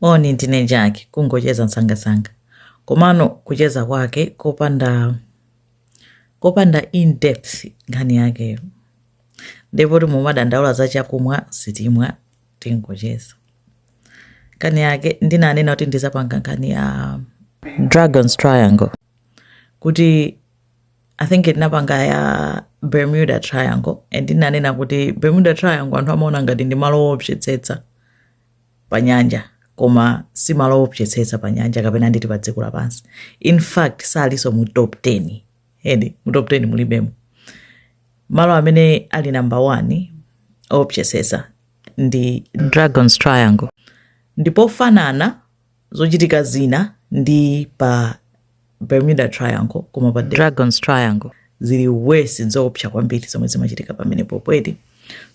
moni ndine Jackie kungocheza msangasanga komano kucheza kwake kopanda kopanda in depth nkhani yakeyo ndipo poti mumadandaula za chakumwa sitimwa tingocheza nkhani yake ndinanena kuti ndizapanga nkhani ya dragons triangle kuti i think ndinapanga ya bermuda triangle and ndinanena kuti bermuda triangle anthu amaona ngati ndi malo owopsetsetsa pa nyanja koma si malo owopsetsetsa pa nyanja kapena nditi pa dziko lapansi in fact salinso mu top 10 eti mu top 10 mulibemo malo amene ali number 1 owopsetsetsa ndi dragons triangle ndipofanana zochitika zina ndi pa bermuda triangle koma pa dragons triangle zili worse nzoopsa kwambiri zomwe zimachitika pamenepopo eti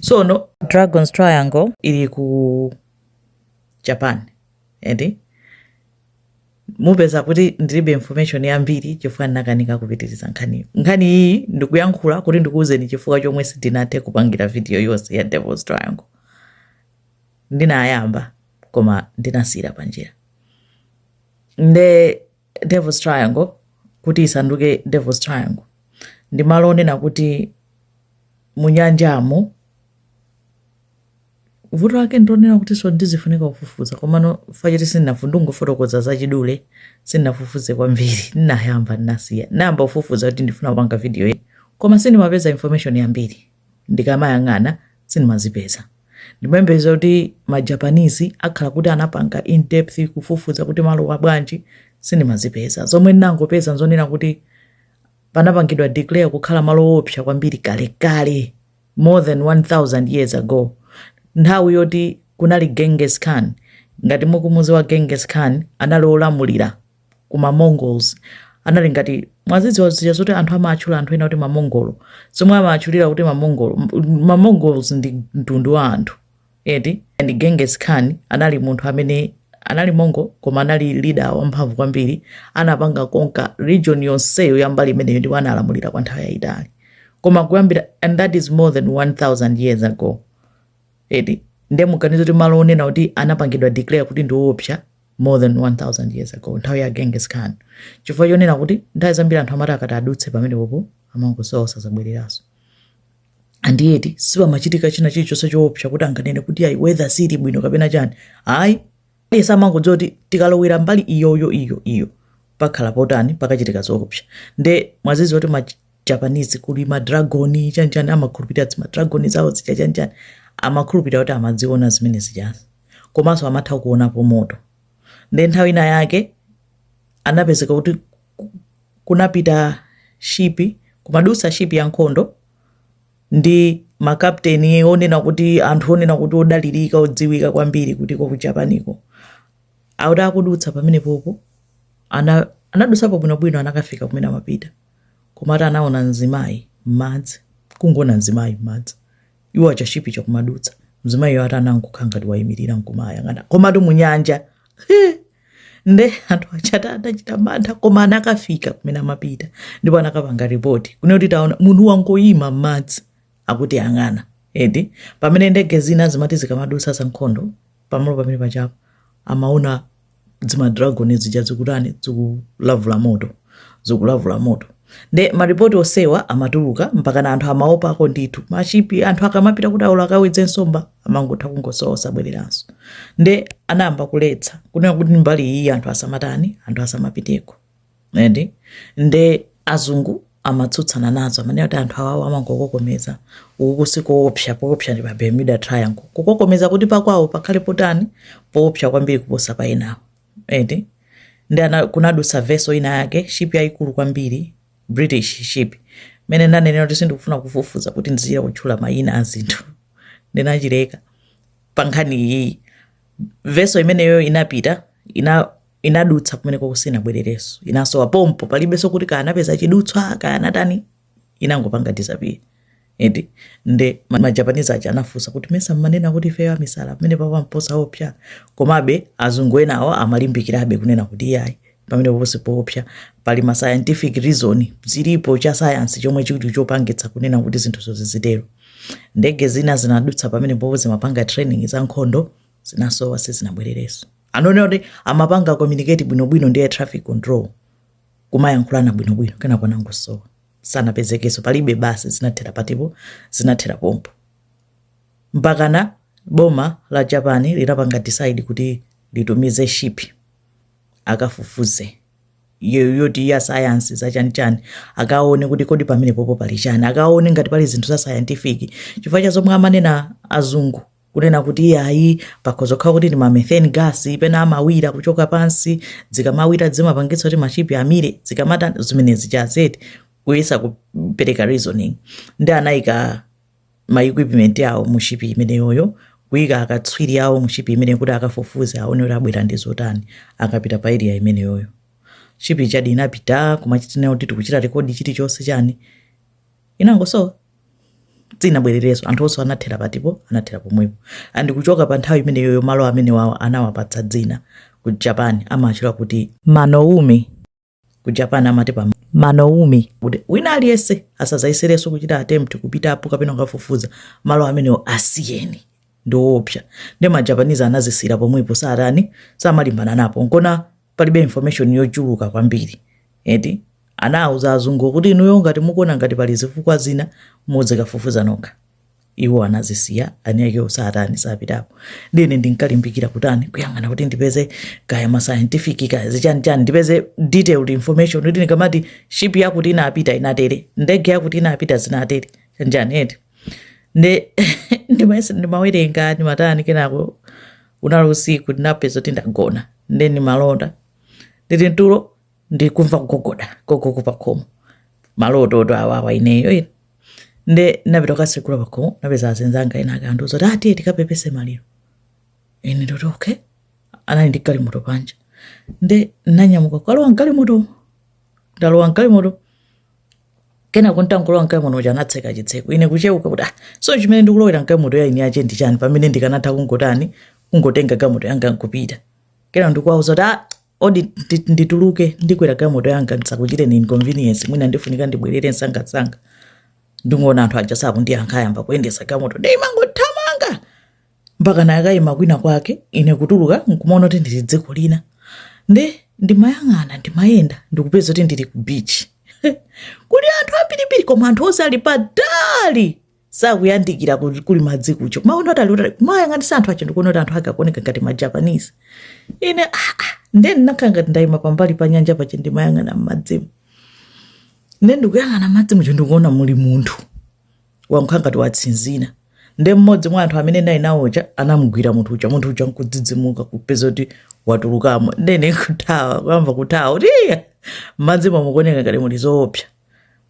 sono dragons triangle ili ku japan eti mupeza kuti ndilibe information yambiri chifukwa ndinakanika kupitiriza nkhaniyo nkhani iyi ndikuyankhula kuti ndikuwuzeni chifukwa chomwe sindinathe kupangira video yonse ya devils triangle ndinayamba koma ndinasiyira panjira nde devil's triangle kuti isanduke devil's triangle ndi malo onena kuti munyanjamo vuto lake ndi lonena kuti so ndizifunika kufufuza komano fachiti sindinafu ndingofotokoza zachidule sindinafufuze kwambiri ndinayamba ndinasiya ndinayamba kufufuza kuti ndifuna kupanga video iyi koma sindimapeza information yambiri ndikamayang'ana sindimazipeza. Ndimayembekeza kuti ma Japanese akhala kuti anapanga in depth kufufuza kuti malo abwanji sindimazipeza. Zomwe ndinangopeza nzonena kuti panapangidwa declare kukhala malo oopsa kwambiri kalekale more than 1000 years ago nthawi yoti kunali Genghis Khan ngati mukumuziwa Genghis Khan anali olamulira ku ma Mongols anali ngati mwazidziwa zija zoti anthu amatchula anthu ena kuti ma Mongol zomwe amatchulira kuti ma Mongol m- ma Mongols ndi mtundu wa anthu eti and Genghis Khan anali munthu amene anali Mongol koma anali leader wamphamvu kwambiri anapanga conquer region yonseyo ya mbali imeneyo ndipo analamulira kwa nthawi yayitali koma kuyambira and that is more than 1000 years ago eti nde muganize kuti malo onena kuti anapangidwa declare kuti ndi woopsa more than 1000 years ago nthawi ya genghis khan chifukwa chonena kuti nthawi zambiri anthu amati akati adutse pamenepopo amangosowa osazabwereranso and yet sipamachitika china chilichonse choopsa kuti anganene kuti ayi weather sili bwino kapena chani ayi iwo amangodziwa kuti tikalowera mbali iyoyo iyo iyo pakhala potani pakachitika zoopsa nde mudziwe kuti japanese kuli ma dragon chanchani amakhulupirira zima dragon zawo zija chanchani amakhulupirira kuti amadziona zimene zijazi komanso amatha kuonapo moto nde nthawi ina yake anapezeka kuti ku- kunapita shipi kumadutsa shipi ya nkhondo ndi makapteni onena kuti anthu onena kuti odalirika odziwika kwambiri kutiko ku japaniko akuti akudutsa pamenepopo ana anadutsapo bwinobwino anakafika kumene amapita koma ati anaona mzimayi m'madzi kungoona mzimayi m'madzi iwo aja shipi ija kumadutsa mzimayiyo ati anangokhala ngati wayimirira nkumawayang'ana komatu munyanja nde anthu aja ati anachita mantha koma anakafika kumene amapita ndipo anakapanga ripoti kunena kuti taona munthu wangoyima m'madzi akutiyang'ana ende pamene ndege zina zimati zikamadutsa zankhondo pamalo pamene pajapo amaona zima dragon zija zikutani zikulavula moto zikulavula moto nde maripoti onsewa amatuluka mpakana anthu amaopako ndithu mashipi anthu akamapita kuti awo akawedze nsomba amangotha kungosowa osabwereranso nde anayamba kuletsa kunena kuti mbali iyi anthu asamatani anthu asamapiteko ende nde azungu amatsutsana nazo amanena kuti anthu awawo amangokokomeza uku sikoopsa poopsa ndi pa bermuda triangle kukokomeza kuti pakwawo pakhale potani poopsa kwambiri kuposa pa enawo ende nde ana- kunadutsa vessel ina yake ship yayikulu kwambiri british ship mene ndanenera kuti sindikufuna kufufuza kuti ndidzilakwitsa mayina a zinthu ndikuchedwetsa pa nkhani iyi vessel imeneyo inapita ina inadutsa kumenekoko sinabwererenso inasowa pompo palibenso kuti kaya anapeza chidutswa kaya anatani inangopanga disappear eti nde ma- majapanizi aja anafunsa kuti mesa mmanena kuti ifeyo amisala pamenepapa mposaopsa komabe azungu enawo amalimbikirabe kunena kuti iyayi pamene ponse poopsa pali ma scientific reason zilipo cha sayansi chomwe chili chopangitsa kunena kuti zinthu zizizitero ndege zina zinadutsa pamenepopo zimapanga training za nkhondo zinasowa sizinabwererenso ananena kuti amapanga communicate bwinobwino ndi air traffic control kumayankhulana bwinobwino kenako anangosowa sanapezekenso palibe basi zinathera pati po zinathera pompo mpakana boma la japan linapanga decide kuti litumize ship akafufuze yo- yoti ya sayansi zachanichani akaone kuti kodi pamenepopo pali chani akaone ngati pali zinthu za scientific chifukwa cha zomwe amanena azungu kunena kuti iyayi pakhoza kukhala kuti ndi ma methane gas pena amawira kuchoka pansi zikamawira zimapangitsa kuti mashipi amire zikamatha zimenezi chabe eti kuyesa kupereka reasoning ndi anayika ma equipment awo mu shipi imeneyoyo kuyika akatswiri awo mu shipi imeneyo kuti akafufuze aone kuti abwera ndi zotani akapita pa area imeneyoyo shipi chadi inapita kumachita kunena kuti tikuchita rekodi chilichonse chani inangosowa siinabwerereso anthu onse anathera pati anathera pomwepo and kuchoka pa nthawi imeneyoyo malo amenewawa anawapatsa dzina ku japan amatchula kuti manoumi ku japan amati pa manoumi kuti wina aliyense asazayesereso kuchita attempt kupitapo kapena kukafufuza malo amenewo asiyeni ndiwoopsa ndi majapanizi anazisiira pomwepo sakutani samalimbana napo nkona palibe information yochuluka kwambiri eti anawuza azungu kuti inuyo ngati mukuona ngati pali zifukwa zina muzikafufuza nokha iwo anazisiya eniake kusatani sapitapo nde ine ndinkalimbikira kutani kuyang'ana kuti ndipeze kaya ma scientific kaya zichani chani ndipeze detailed information kuti ndikamati ship yakuti inapita inatere ndege yakuti inapita zinatere chanjani eti nde ndimayesa ndimawerenga ndimatani kenako unali usiku ndinapeza kuti ndagona nde ndimalota ndili mtulo ndikumva kugogoda gogogo pakhomo malototu awawa ineyo ine nde napita kukasekula pakhomo napeza azinzanga ena akundiuza kuti ah tiye tikapepese maliro ine ndati okay anali ndi galimoto panja nde nanyamuka kukalowa mgalimoto ndalowa mgalimoto kenako nditangolowa mgalimoto muja anatseka chitseko ine kucheuka kuti ah so chimene ndikulowera mgalimoto ya eni ake ndi chani pamene ndikanatha kungotani kungotenga galimoto yanga nkupita kenako ndikuwauza kuti ah odi ndi- ndituluke ndikwere galimoto yanga ndisakuchiteni inconvenience mwina ndifunika ndibwerere msangamsanga ndikungoona anthu aja sakundiyankha ayamba kuyendesa galimoto nde imangothamanga mpaka anakayima kwina kwake ine kutuluka nkumaona kuti ndili dziko lina nde ndimayang'ana ndimayenda ndikupeza kuti ndili ku beach kuli anthu ambirimbiri koma anthu onse ali patali sakuyandikira ku- kuli madzi kuja kumaona kuti ali kutali kumayang'anisa anthu aja ndikuona kuti anthu ake akuoneka ngati majapanese ine ah, ah, nde ndinakhala ngati ndayima pambali pa nyanja paja ndimayang'ana m'madzimo nde ndikuyang'ana madzi muja ndikuona muli munthu wakhala ngati watsinzina nde mmodzi mwa anthu amene ndinali nawo aja anamugwira munthu uja munthu uja nkudzidzimuka kupeza kuti watulukamo nde ine kuthawa kuyamba kuthawa kuti iya mmadzi muno mukuoneka ngati muli zoopsa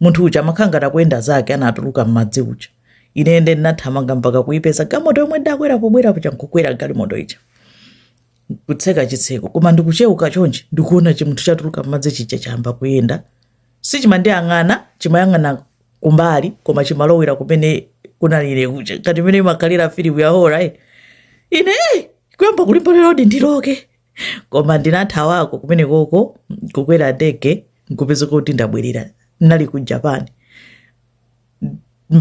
munthu uja amakhala ngati akuyenda zake anatuluka mmadzi muja ine nde ndinathamanga mpaka kuipeza galimoto yomwe ndakwera pobwera paja nkukwera galimoto ija kutseka chitseko koma ndikucheuka chonchi ndikuona chimunthu chatuluka mmadzi chija chayamba kuyenda sichimandiyang'ana, chimayang'ana kumbali koma chimalowera kumene kunali ine kuja ngati imene imakhalira filimu ya horror eh. ine eh, kuyamba kulimba lerodi ndiloke koma ndinathawako kumene koko kukwera ndege nkupezeka kuti ndabwerera nali ku japan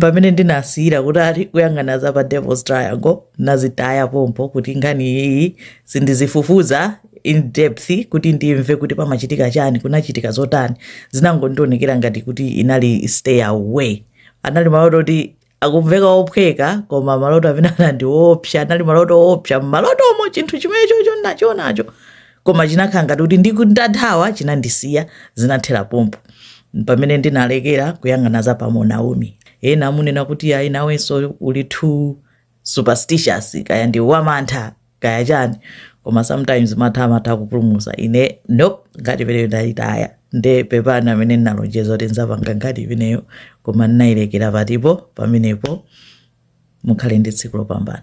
pamene ndinasiyira kuti ali kuyang'ana za pa devil's triangle nazitaya pompo kuti nkhani iyiyi sindizifufuza in depth kuti ndimve kuti pamachitika chani kunachitika zotani zinangondionekera ngati kuti inali stay away anali maloto oti akumveka ophweka koma maloto amene anandiopsa anali maloto oopsa mmalotomo chinthu chimenecho ndinachionacho koma chinakhala ngati kuti nditathawa chinandisiya zinathera pompo pamene ndinalekera kuyang'ana za pamo naomi ena amunena kuti ayi nawenso uli too superstitious kaya ndiwe wamantha kaya chani koma sometimes mantha amatha kupulumusa ine nope nkhani imeneyo ndayitaya nde pepani amene ndinalonjeza kuti nzapanga nkhani imeneyo koma ndinayilekera patipo pamenepo mukhale ndi tsiku lopambana